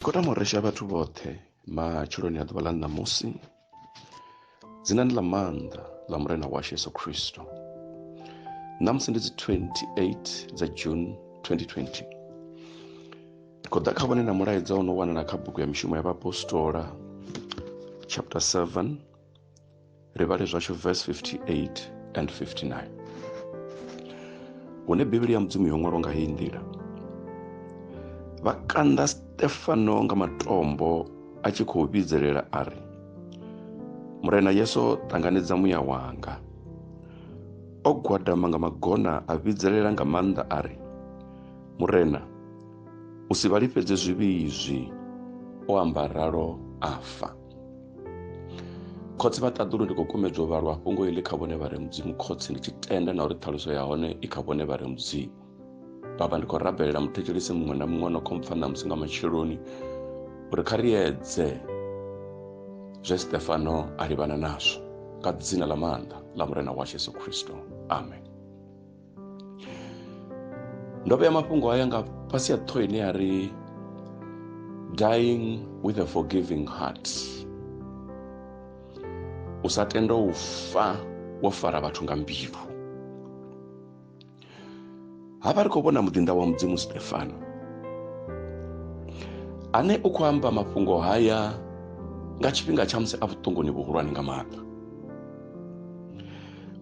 Khou tama u resha vhathu vhoṱhe matsheloni a ḓuvha ḽa ṋamusi dzinani ḽa maanḓa ḽa murena washu yesu khristo ṋamusi ndi dzi 28 dza june 2020 ndi khou ḓa kha vhone na mulaedza o no wanala kha bugu ya mishumo ya vhaapostola chapter 7 ri vhale zwashu verse 58 and 59 hune bivhili ya mudzimu yo ṅwalwa nga heyi nḓila vha kanda stefano nga matombo a tshi khou vhidzelela a ri murena yesu ṱanganedza muya wanga o gwadama nga magona a vhidzelela nga maanḓa a ri murena u si vha lifhedze zwivhi izwi o amba ralo afa khotsi vha ṱaḓulu ndi khou kumedzwa u vhalwa fhungo iḽi kha vhone vha re mudzimu khotsi ndi tshi tenda na uri ṱhaluso ya hone i kha vhone vha re mudzimu baba ndi khou rabelela muthetshelisi muṅwe na muṅwe no khompfa ṋamusi nga matsheloni uri kha ri edze zwe stefano a livhana nazwo nga dzina ḽa maanḓa ḽa murena washu yesu khristo amen ndo vhea mafhungo haya nga fhasi ya ṱhoho ine ya ri dying with a forgiving heart u sa tenda u fa wo fara vhathu nga mbilu hafha ri khou vhona muḓinḓa wa mudzimu stefano ane u khou amba mafhungo haya nga tshifhinga tsha musi a vhuṱunguni vhuhulwane nga maanḓa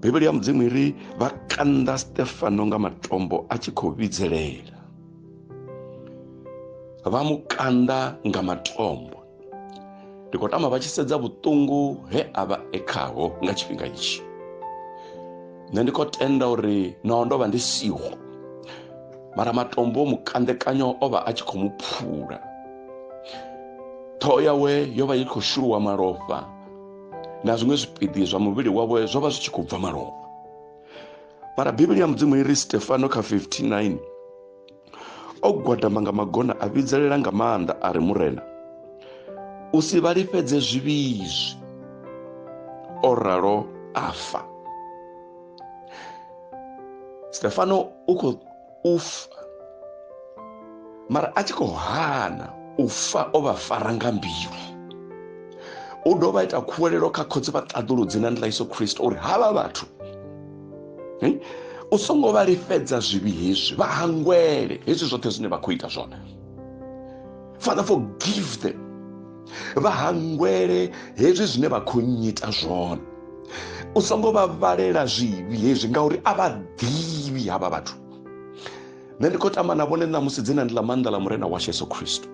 bivhili ya mudzimu i ri vha kanda stefano nga matombo a tshi khou vhidzelela vha mu kanda nga matombo ndi khou tama vha tshi sedza vhuṱungu he a vha e khaho nga tshifhinga itshi nṋe ndi khou tenda uri naho ndo vha ndi siho mara matombo o mukandekanyo o vha a tshi khou mu phula ṱhoho yawe yo vha i khou shuluwa malofha na zwiṅwe zwipiḓi zwa muvhili wavho zwo vha zwi tshi khou bva malofha mara bivhili ya mudzimu i ri stefano kha 59 o gwadama nga magona a vhidzelela nga maanḓa a ri murena u si vha lifhedze zwivhizwi o ralo a fa stefano u khou u fa mara a tshi khou hana u fa o vha fara nga mbilu u dovha ita khuwelelo kha khotsi vha ṱaḓuludzi na ndilaiso khristo uri havha vhathu hm, u songo vha lifhedza zwivhi hezwi vha hangwele hezwi zwoṱhe zwine vha khou ita zwone father forgive them vha hangwele hezwi zwine vha khou nyita zwone u songo vha vhalela zwivhi hezwi ngauri a vha ḓivhi havha vhathu nṋe ndi khou tamba na vhone ṋamusi dzina ndi ḽa maanḓa ḽa murena washu yesu khristo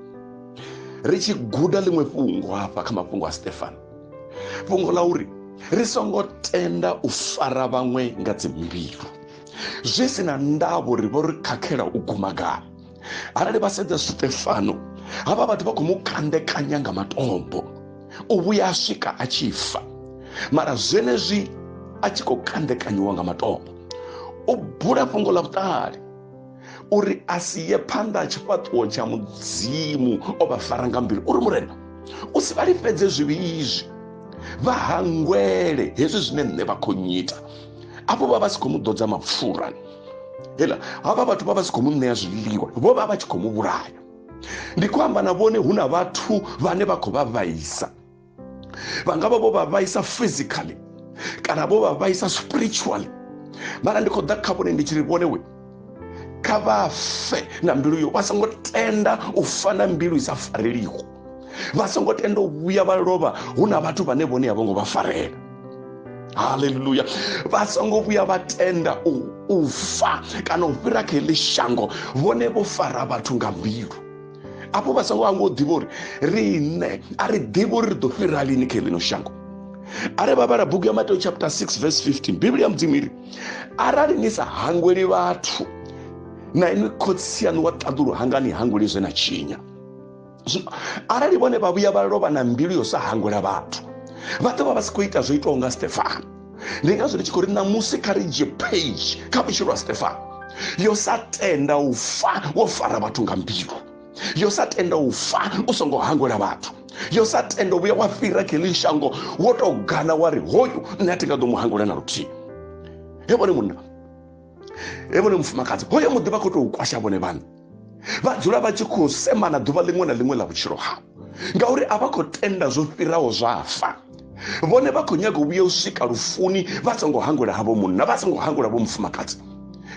ri tshi guda ḽiṅwe fhungo hafha kha mafhungo a stefano fhungo ḽa uri ri songo tenda u fara vhaṅwe nga dzimbilu zwi si na ndavho ri vho ri khakhela u guma gai arali vha sedza sitefano havha vhathu vha khou mu kandekanya nga matombo u vhuya a swika a tshi fa mara zwenezwi a tshi khou kandekanyiwa nga matombo u bula fhungo ḽa vhuṱali uri a si ye phanḓa ha tshifhaṱuwo tsha mudzimu o vha fara nga mbilu uri murena u si vha lifhedze zwivhi izwi vha hangwele hezwi zwine nṋe vha khou nyita afho vha vha si khou mu ḓodza mapfura hela havha vhathu vha vha si khou mu ṋea zwiḽiwa vho vha vha tshi khou mu vhulaya ndi khou amba na vhone hu na vhathu vhane vha khou vha vhaisa vha nga vha vho vha vhaisa physically kana vho vha vhaisa spiritually mara ndi khou ḓa kha vhone ndi tshi ri vhone we kha vha fe na mbilu yo vha songo tenda u fa na mbilu i sa fareliho vha songo tenda u vhuya vha lovha hu na vhathu vhane vhone a vho ngo vha farela haleluya vha songo vhuya vha tenda u u fa kana u fhira kha heḽi shango vhone vho fara vhathu nga mbilu afho vha songo hangwa u ḓivha uri riṋe a ri ḓivhi uri ri ḓo fhira lini kha heḽino shango are vha vhala bugu ya mateo chapter 6 verse 15 bivhili ya mudzimu iri arali ni sa hangweli vhathu na inwi khotsi yaṋu wa ṱaḓulu hangani hangweli zwe na tshinya zwino arali vhone vha vhuya vha lovha na mbilu yo sa hangwela vhathu vha ḓo vha vha si khou ita zwo itaho nga stefano ndi ngazwo ndi tshi khou ri ṋamusi kha ri dzhie page kha vhutshilo ha stefano yo sa tenda u fa wo fara vhathu nga mbilu yo sa tenda u fa u songo hangwela vhathu yo sa tenda u vhuya wa fhira kheḽi shango wo tou gana wa ri hoyu nṋe a thi nga ḓo mu hangwela na luthihi he vhone munna he vhone mufumakadzi hoyo muḓi vha khou tou kwasha vhone vhaṋe vha dzula vha tshi khou semana ḓuvha ḽiṅwe na ḽiṅwe ḽa vhutshilo hau ngauri a vha khou tenda zwo fhiraho zwa fa vhone vha khou nyaga u vhuya u swika lufuni vha songo hangwela havho munna vha songo hangwela vho mufumakadzi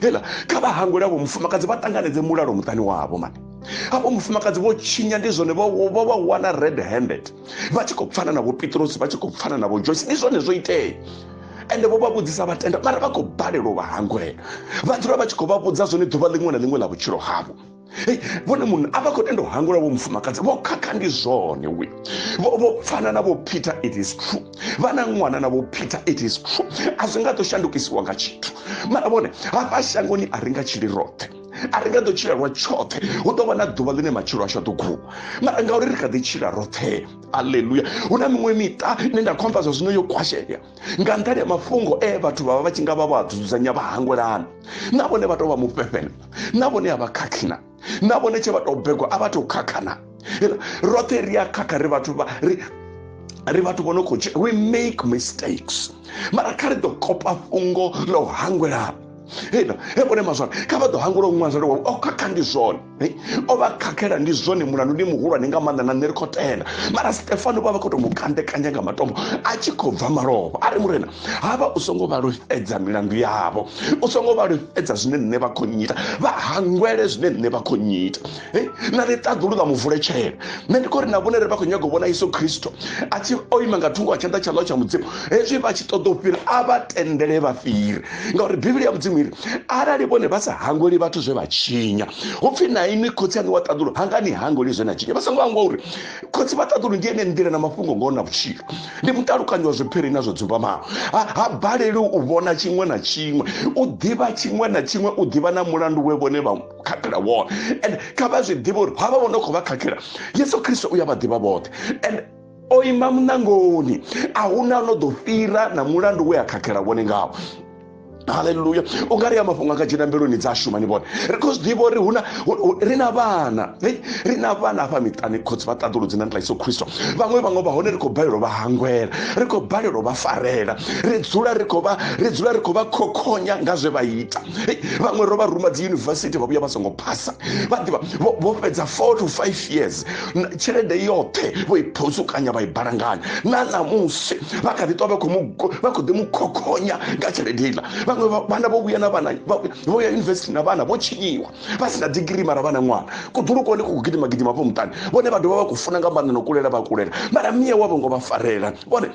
hela kha vha hangwela vho mufumakadzi vha ṱanganedze mulalo muṱani wavho mani havho mufumakadzi vho tshinya ndi zwone vha wana red handed vha tshi khou pfana na vho pitrosi vha tshi khou pfana na vho joyce ndi zwone zwo itea ende vho vha vhudzisa vha tenda mara vha khou balelwa vha hangwela vha dzula vha tshi khou vha vhudza zwone ḓuvha ḽiṅwe na ḽiṅwe ḽa vhutshilo havho Hey, vhone munhu a vha khou tenda u hangula vho mufumakadzi vho khakha ndi zwone we vho vho pfana na vho peter it is true vha na ṅwana na vho peter it is true a zwi nga ḓo shandukisiwa nga tshithu mara vhone hafha shangoni a ri nga tshili roṱhe a ri nga ḓo tshila lwa tshoṱhe hu ḓo vha na ḓuvha ḽine matshilo ashu a ḓo guma mara ngauri ri kha ḓi tshila roṱhe aleluya hu na miṅwe miṱa ine nda khomba zwa zwino yo kwashea nga nṱhani ya mafhungo e vhathu vha vha vha tshi nga vha vha dzudzanya vha hangwelana na vhone vha tou vha mufhefhela na vhone a vha khakhina na vhone tshe vha tou begwa a vha tou khakhana roṱhe ri a khakha ri vhathu vha ri ri vhathu vho no khou dzhia we make mistakes mara kha ri ḓo kopa fhungo ḽa u hangwela hena he vhone mazwana kha vha ḓo hangwela u ṅwazela wa o oh, khakha ndi zwone o oh, vha khakhela ndi zwone mulandu ndi muhulwane nga maanḓa na nṋe ri khou tenda mara stefano vha vha khou tou mu kandekanya nga matombo a tshi khou bva malofha a ri murena ha vha u songo vha lufhedza milandu yavho u songo vha lufhedza zwine nṋe vha khou nyita vha hangwele zwine nṋe vha khou nyita na ri ṱaḓulu na muvuletshela nṋe ndi khou ri na vhone ri vha khou nyaga u vhona yesu khristo a tshi o ima nga thungo wa tshanḓa tsha ḽo tsha mudzimu hezwi vha tshi ṱoḓa u fhira a vha tendele vha fhire ngauri bivhili ya mudzimu iri arali vhone vha sa hangweli vhathu zwe vha tshinya hu pfhi na inwi khotsi aṋu wa ṱaḓulu hanga ni hangweli zwe na tshinya vha songo hangwa uri khotsi vha ṱaḓulu ndi ene nḓila na mafhungo ngoho na vhutshilo ndi mutalukanyi wa zwiphiri na zwo dzumbamaho ha baleli u vhona tshiṅwe na tshiṅwe u ḓivha tshiṅwe na tshiṅwe u ḓivha na mulandu we vhone vha khakhela wone and kha vha zwi ḓivhe uri havha vho no khou vha khakhela yesu khristo u ya vha ḓivha vhoṱhe and o ima muṋangoni a huna no ḓo fhira na mulandu we a khakhela vhone ngawo haleluya u nga ri a mafhungo a nga dzhena mbiluni dza shuma ni vhone ri khou zwi ḓivha uri huna ri na vhana ri na vhana afha miṱani khotsi vha ṱaḓuludzi na nḓila iso khristo vhaṅwe vhaṅwe vha hone ri khou balelwa vha hangwela ri khou balelwa vha farela ri dzula ri khou vha ri dzula ri khou vha khokhonya nga zwe vha ita vhaṅwe ro vha ruma dzi yunivesithi vha vhuya vha songo phasa vha ḓivha vho fhedza four to five years tshelede yoṱhe vho i phusukanya vha i balanganya na ṋamusi vha kha ḓi ṱwa vha khou ḓi mu khokhonya nga tshelede iḽa vhaṅwe vhana vho vhuya na vhana vho ya yunivesithi na vhana vho tshinyiwa vha si na digiri mara vha na ṅwana kuḓulukoni ku khou gidima gidima hafho muṱani vhone vha dovha vha khou funa nga maanḓa no kulela vha kulela mara mia wavho ngo vha farela vhone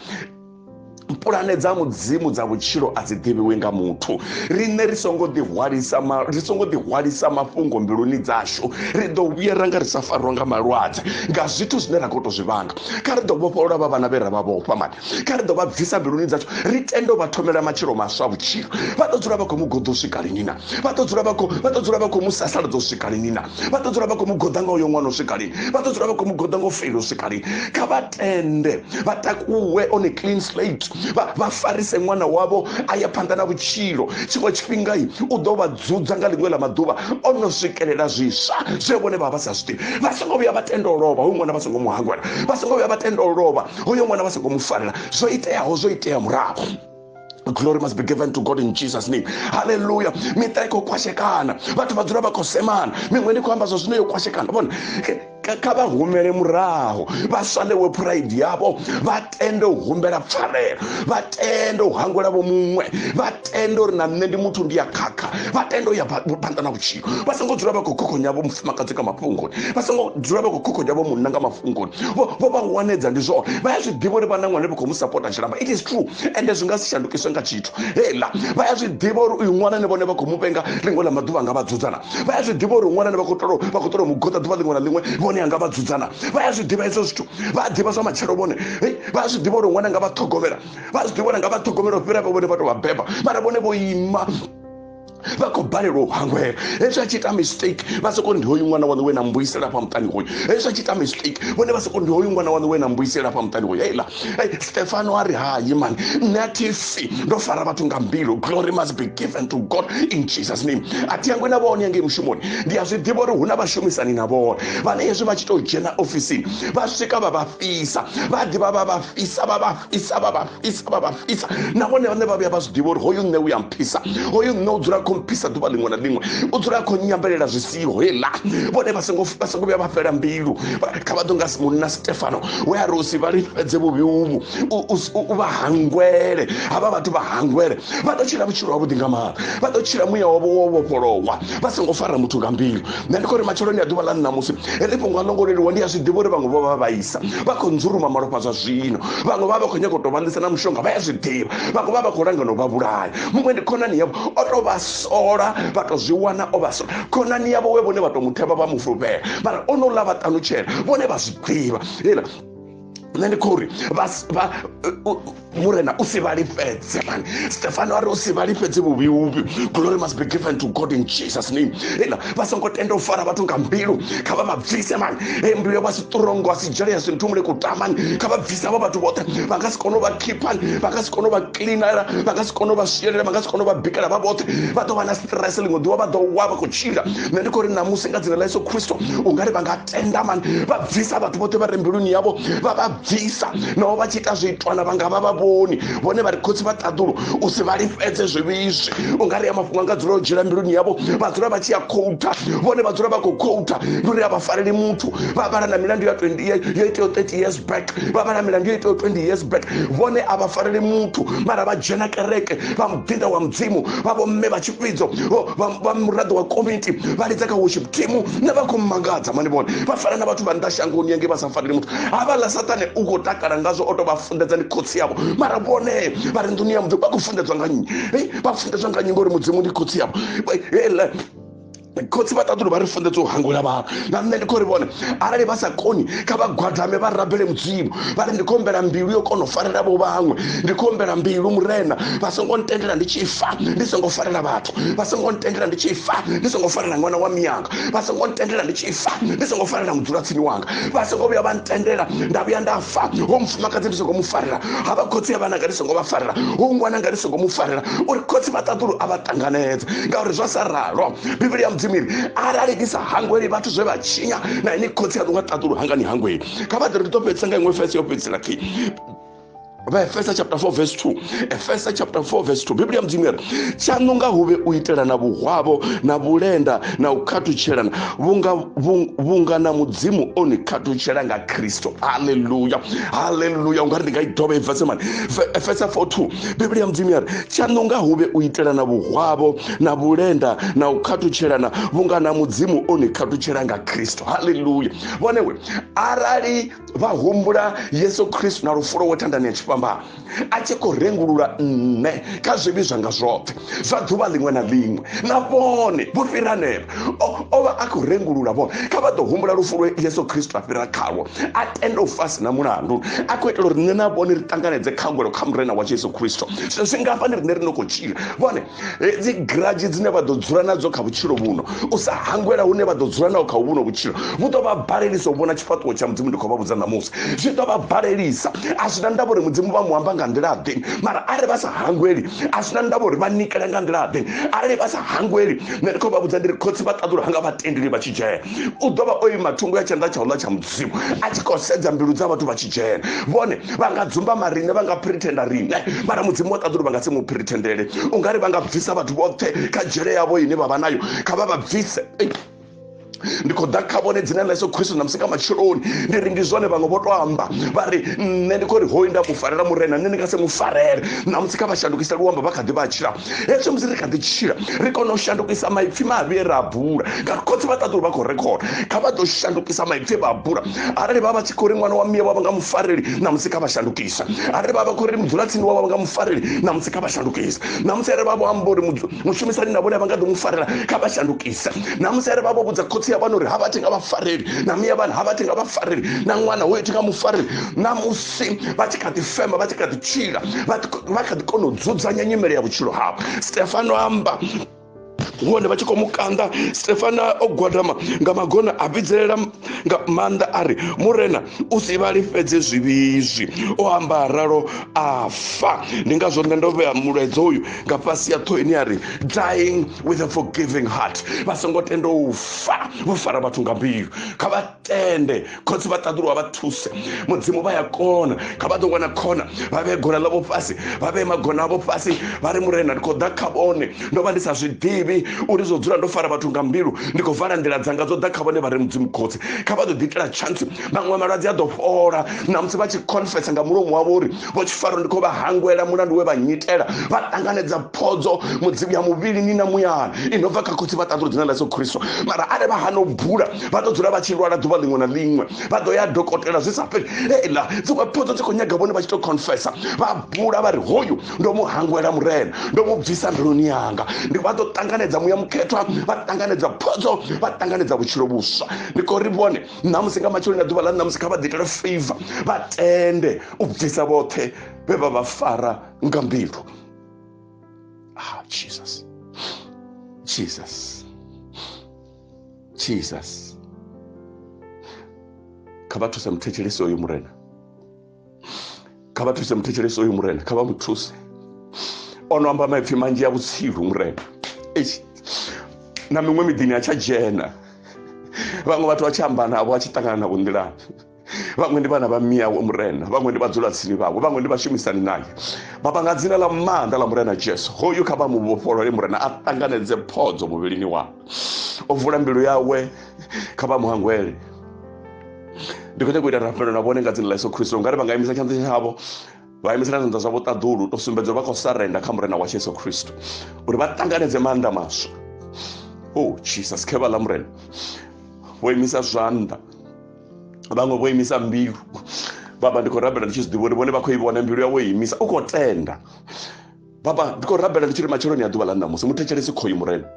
pulane dza mudzimu dza vhutshilo a dzi ḓivhiwi nga muthu riṋe ri songo ḓihwalisa ri songo ḓihwalisa mafhungo mbiluni dzashu ri ḓo vhuyera nga ri sa farwa nga malwadze nga zwithu zwine ra khou tou zwi vhanga kha ri ḓo vhofholola vha vhana vhe ra vha vhofha mani kha ri ḓo vha bvisa mbiluni dzashu ri tende vha thomela matshilo maswa vhutshilo vha ḓo dzula vha khou mu goḓo swika lini na vha ḓo dzula vha khou vha ḓo dzula vha khou mu sasaladza u swika lini na vha ḓo dzula vha khou mu goḓa nga uyo ṅwana u swika lini vha ḓo dzula vha khou mu goḓa nga u feila u swika lini kha vha tende vha takuwe on a clean slate vha farise ṅwana wavho a ya phanḓa na vhutshilo tshiṅwe tshifhinga i u ḓo vha dzudza nga ḽiṅwe ḽa maḓuvha o no swikelela zwiswa zwe vhone vha vha sa zwi ḓivhi vha songo vhuya vha tenda u lovha hoyu ṅwana vha songo mu hangwela vha songo vhuya vha tenda u lovha hoyo ṅwana vha songo mu farela zwo iteaho zwo itea murahu glory must be given to god in jesus name halleluya miṱa i khou kwashekana vhathu vha dzula vha khou semana miṅwe ndi khou amba zwa zwino yo kwashekana vhone kha vha humele muraho vha swalewe pride yavho vha tende u humbela pfarelo vha tende u hangwela vho muṅwe vha tende uri na nṋe ndi muthu ndi ya khakha vha tende u ya phanḓa na vhutshilo vha songo dzula vha khou khokhonya vho mufumakadzi nga mafhungoni vha songo dzula vha khou khokhonya vho munna nga mafhungoni vho vha wanedza ndi zwone vha ya zwi ḓivha uri vha na ṅwana vha khou mu sapota tshilamba it is true ende zwi nga si shandukiswe nga tshithu heiḽa vha ya zwi ḓivha uri uyu ṅwana ne vhone vha khou mu vhenga ḽiṅwe ḽa maḓuvha nga vha dzudzana vha ya zwi ḓivha uri ṅwana ne vha khou tolo vha khou tolo mu goḓa ḓuvha ḽiṅwe na ḽiṅwe vhone anga vha dzudzana vha ya zwi ḓivha hezwo zwithu vha a ḓivha zwa matshelo vhone vha a zwi ḓivha uri ṅwana nga vha ṱhogomela vha a zwi ḓivha uri nga vha ṱhogomela u fhira vhe vhone vha tou vha beba mara vhone vho ima vha khou balelwa u hangwela hezwi a tshi ita mistake vha soko ndi hoyu ṅwana waṋu we na mbuyisela afha muṱani hoyu hezwi a tshi ita mistake vhone vha soko ndi hoyu ṅwana waṋu we na mbuyisela afha muṱani hoyu heiḽa stefano a ri hayi mani nṋe a thi fi ndo fara vhathu nga mbilu glory must be given to god in jesus name a thi yangwe na vhone yangei mushumoni ndi a zwi ḓivha uri hu na vhashumisani na vhone vhane hezwi vha tshi tou dzhena ofisini vha swika vha vha fhisa vha ḓivha vha vha fhisa vha vha isa vhavha isa vhavha isa nahone vhane vha vhuya vha zwi ḓivha uri hoyu nṋe u ya mphisa hoyu nṋe u dzula kho mphisa ḓuvha ḽiṅwe na ḽiṅwe u dzula kho nyambelela zwi siho heḽa vhone vha songo vha songo vhuya vha fhela mbilu kha vha ḓo nga munna stefano we a ri usi vha lifhedze vhuvhi uvhu u vha hangwele havha vhathu vha hangwele vha ḓo tshila vhutshilo havhuḓi nga maanḓa vha ḓo tshila muya wavho wo vhofholowa vha songo fara muthu nga mbilu nṋe ndi khou ri matsheloni a ḓuvha ḽa nṋamusi ri fhungo a longo leluwa ndi a zwi ḓivha uri vhaṅwe vho vha vhaisa vha khou nzuluma malofha zwa zwino vhaṅwe vha vha khou nyanga u tou vhanḓisa na mushonga vha ya zwi ḓivha vhaṅwe vha vha khou langana u vha vhulaya muṅwe ndi khonani yavho o tou vha sola vha tou zwi wana o vha sola khonani yavho we vhone vha tou muthevha vha mufhulufhela mara o no ḽa vha ṱanutshela vhone vha zwi ḓivha hela nṋe ndi khou ri murena u si vhalifhedze mani stefano a ri u si vhalifhedze vhuvhi vhuvhi glory must be given to god in jesus name ena vha songo tenda u fara vhathu nga mbilu kha vha mabvise mani e mbilu ya vha si turongo a si dzhele ya sinthumule kutamani kha vha bvise avho vhathu vhoṱhe vha nga si kone u vha khiphani vha nga si kone u vha kilinela vha nga si kone u vha swielela vha nga si kone u vha bikela vha vhoṱhe vha ḓo vha na stress ḽiṅwe ḓuvha vha ḓo wa vha khou tshila nṋe ndi khou ri namusi nga dzina ḽa yesu kristo u nga ri vha nga tenda mani vha bvisa vhathu vhoṱhe vha re mbiluni yavho vha vha bvisa naho vha tshi ita zwiitwana vha nga vha vha vhoni vhone vha ri khotsi vha ṱaḓulu u si vha lifhedze zwivhizwi u nga ri ya mafhungo anga dzula u dzhiela mbiluni yavho vha dzula vha tshi ya khoutha vhone vha dzula vha khou khoutha ndi uri a vha fareli muthu vha vhala na milandu ya 20 yo iteyo 30 years back vha vhala milandu yo iteyo 20 years back vhone a vha fareli muthu mara vha dzhena kereke vha muḓinda wa mudzimu vha vho mme vha tshi tshivhidzo vha muraḓo wa komiti vha lidza kha worship team na vha khou mangadza mani vhone vha fana na vhathu vha nnḓa shangoni yange vha sa faneli muthu havhaḽa saṱane u khou takala ngazwo o tou vha funḓedza ndi khotsi yavho mara vhone vha ri nḓuni ya muthu vha khou funḓedzwa nga nnyi vha funḓedzwa nga nnyi ngori mudzimu ndi khotsi yavho khotsi vha ṱaḓulu vha ri funḓedza u hangula vhathu na nṋe ndi khou ri vhone arali vha sa koni kha vha gwadame vha rabele mudzimu vha ri ndi khou humbela mbilu yo kona u farela vho vhaṅwe ndi khou humbela mbilu murena vha songo ntendela ndi tshi fa ndi songo farela vhathu vha songo ntendela ndi tshi fa ndi songo farela ṅwana wa miyanga vha songo ntendela ndi tshi fa ndi songo farela mudzulatsini wanga vha songo vhuya vha ntendela nda vhuya nda fa ho mufumakadzi ndi songo mu farela ha vha khotsi ya vhananga ndi songo vha farela ho ngwananga ndi songo mu farela uri khotsi vha ṱaḓulu a vha ṱanganedze ngauri zwa sa ralo bivhili ya mudzimu iri arali ni sa hangweli vhathu zwe vha tshinya na ini khotsi ya ḓo nga ṱaḓulu hangani hangweli kha vha ḓe ri ḓo fhedzisa nga iṅwe fese yo fhedzisela khi vha efesa chapter 4 verse 2 efesa chapter 4 verse 2 biblia mudzimu yari tshaṋu nga hu vhe u itelana vhuhwavho na vhulenda na u khathutshelana vhunga vhunga na mudzimu o ni khathutshela nga kristo haleluya haleluya u nga ri ndi nga i dovha ibva semani efesa 4 2 biblia mudzimu yari tshaṋu nga hu vhe u itelana vhuhwavho na vhulenda na u khathutshelana vhunga na mudzimu o ni khathutshela nga kristo haleluya vhonewe arali vha humbula yesu khristu na lufulo wo thandani ya tshifhambano a tshi khou rengulula nṋe kha zwivhi zwanga zwoṱhe zwa ḓuvha ḽiṅwe na ḽiṅwe na vhone vho fhira nela o vha a khou rengulula vhone kha vha ḓo humbula lufulo yesu khristu a fhira khalwo a tenda u fasi na mulandu a khou itela uri nṋe na vhone ri ṱanganedze khangwelo kha murena wa yesu khristu zwe zwi ngafha ni rine ri no khou tshila vhone hedzi grudge dzine vha ḓo dzula nadzo kha vhutshilo vhuno u sa hangwela hune vha ḓo dzula naho kha vhuno vhutshilo vhu ḓo vha balelisa u vhona tshifhaṱuwo tsha mudzimu ndi khou vha vhudza ṋamusi zwi ḓo vha balelisa a zwi na ndavha uri mudzimu vha mu amba nga nḓila ḓe mara arali vha sa hangweli a zwi na ndavha uri vha nikela nga nḓila ḓe arali vha sa hangweli nṋe ndi khou vha vhudza ndi ri khotsi vha ṱaḓulu hanga vha tendeli vha tshi dzhena u ḓo vha o ima thungo ya tshanḓa tsha u ḽa tsha zwiṅwe a tshi khou sedza mbilu dza vhathu vha tshi dzhena vhone vha nga dzumbama riṋe vha nga phirithenda riṋe mara mudzimu wa ṱaḓulu vha nga si mu phirithendele u nga ri vha nga bvisa vhathu vhoṱhe kha dzhele yavho ine vha vha nayo kha vha vha bvise ndi khou ḓa kha vhone dzina ḽa yesu khristu na musi nga matsheloni ndi ri ndi zwone vhaṅwe vho to amba vha ri nṋe ndi khou ri hoyu nda mu farela murena nṋe ndi nga si mu farele na musi kha vha shandukise luambo vha kha ḓi vha tshila hezwi musi ri kha ḓi tshila ri kona u shandukisa maipfi mavhi e ra a bula nga khotsi vha ṱaḓulu vha khou rekhoda kha vha ḓo shandukisa maipfi e vha a bula arali vha vha tshi khou ri ṅwana wa miya wavha nga mufareli na musi kha vha shandukisa arali vha vha khou ri mudzulatsini wavha nga mufareli na musi kha vha shandukisa na musi arali vha vho amba uri mushumisani na vhone vha nga ḓo mu farela kha vha shandukisa na musi arali vha vho vhudza khotsi ya vhana uri ha vha thi nga vha fareli na miya vhana ha vha thi nga vha fareli na ṅwana hoyo thi nga mufareli na musi fhasi vha tshi kha ḓi fema vha tshi kha ḓi tshila vha kha ḓi kona u dzudzanya nyimele ya vhutshilo havho stefano amba hone vha tshi khou mukanda stefana o gwadama nga magona a vhidzelela nga maanḓa a ri murena u si vha lifhedze zwivhizwi o amba ralo a fa ndi ngazwo nṋe ndo vhea mulaedza uyu nga fhasi ya ṱhoho ine ya ri dying with a forgiving heart vha songo tenda u fa vho fara vhathu nga mbilu kha vha tende khotsi vha ṱaḓuluwa vha thuse mudzimu vha ya kona kha vha ḓo wana khona vha vhee gona ḽavho fhasi vha vhee magona avho fhasi vha ri murena ndi khou ḓa kha vhone ndo vha ndi sa zwi ḓivhi uri zwo dzula ndo fara vhathu nga mbilu ndi khou vala nḓila dzanga dzo ḓa kha vhone vha ri mudzimu khotsi kha vha ḓo ḓiitela chance maṅwe malwadze a ḓo fhola namusi vha tshi confesa nga mulomo wavho uri vho tshifaro ndi khou vha hangwela mulandu we vha nnyitela vha ṱanganedza phodzo mudzimu ya muvhilini na muyani i no bva kha khotsi vha ṱaḓula dzina ḽa yesu khristo mara arali vha hana u bula vha ḓo dzula vha tshi lwala ḓuvha ḽiṅwe na ḽiṅwe vha ḓo ya dokotela zwi sa fheli heiḽa dziṅwe phodzo dzi khou nyaga vhone vha tshi tou confessa vha bula vha ri hoyu ndo mu hangwela murena ndo mu bvisa mbiluni yanga ndi vha ḓo ṱanganedza muya mukhethwa vha ṱanganedza phodzo vha ṱanganedza vhutshilo vhuswa ndi khou ri vhone ṋamusi nga matsheloni a ḓuvha ḽa ṋamusi kha vha ḓi itele favor vha tende u bvisa vhoṱhe vhe vha vha fara nga mbilu ah jesus jesus jesus kha vha thuse muthetshelesi oyo murena kha vha thuse muthetshelesi uyu murena kha vha mu thuse o no amba maipfi manzhi ya vhutsilu murena na miṅwe miḓini a tsha dzhena vhaṅwe vhathu vha tshi amba navho a tshi ṱangana navho nḓilani vhaṅwe ndi vhana vha miyawe murena vhaṅwe ndi vhadzula tsini vhawe vhaṅwe ndi vhashumisani naye baba nga dzina ḽa maanḓa ḽa murena jesu hoyu kha vha mu vhofholole murena a ṱanganedze phodzo muvhilini wawe o vula mbilu yawe kha vha muhangwele ndi khou nyaka u ita rapelo na vhone nga dzina ḽa yesu khristo ungari vha nga imisa tshanḓa tshavho vha imisela zwanḓa zwavho ṱaḓulu to sumbedza vha khou sarenda kha murena wa yesu khristo uri vha ṱanganedze maanḓa maswa o oh, jesus khe vha ḽa murena vho imisa zwanḓa vhaṅwe vho imisa mbilu baba ndi khou rabela ndi tshi zwi ḓivha uri vhone vha khou i vhona mbilu yawe imisa u khou tenda baba ndi khou rabela ndi tshi ri matsheloni ya ḓuvha ḽa ṋamusi muthetshelesi khoyu murena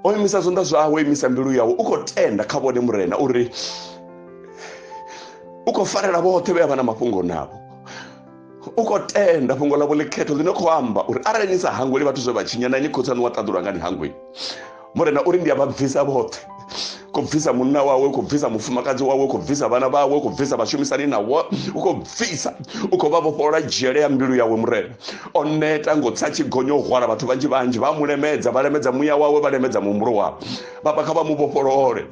o imisa zwanḓa zwawe o imisa mbilu yawe u khou tenda kha vhone murena uri u khou farela vhoṱhe vhe a vha na mafhungo navho u khou tenda fhungo ḽavho ḽikhetho ḽine khou amba uri arali ni sa hangweli vhathu zwe vha tshinya na ni khotsi aṋu wa ṱaḓulwa nga ni hangweli murena uri ndi a vha bvisa vhoṱhe khou bvisa munna wawe khou bvisa mufumakadzi wawe khou bvisa vhana vhawe khou bvisa vhashumisani nawo u khou bvisa u khou vha vhofholola dzhele ya mbilu yawe murena o neta ngo tsa tshigonyo hwala vhathu vhanzhi vhanzhi vha mu lemedza vha lemedza muya wawe vha lemedza muhumbulo wawe baba kha vha mu vhofholole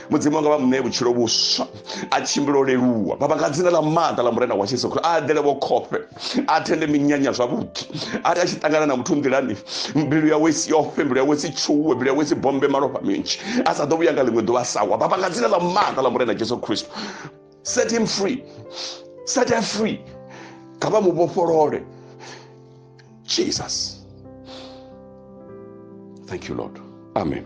mudzimu nga vha mu ṋee vhutshilo vhuswa a tshimbilo leluwa baba nga dzina ḽa maḓa ḽa murena wa jesu khristo a ḓele vho khofhe a thende minyanya zwavhuḓi ari a tshi ṱangana na muthu nḓilani mbilu yawe si yofe mbilu yawe si tshuwe mbilu yawe si bombe malofha minzhi a sa ḓo vhuya nga ḽiṅwe ḓuvha sa wa baba nga dzina ḽa maanḓa ḽa murena jesu khristo set him free set her free kha vha mu vhofholole jesus thank you lord amen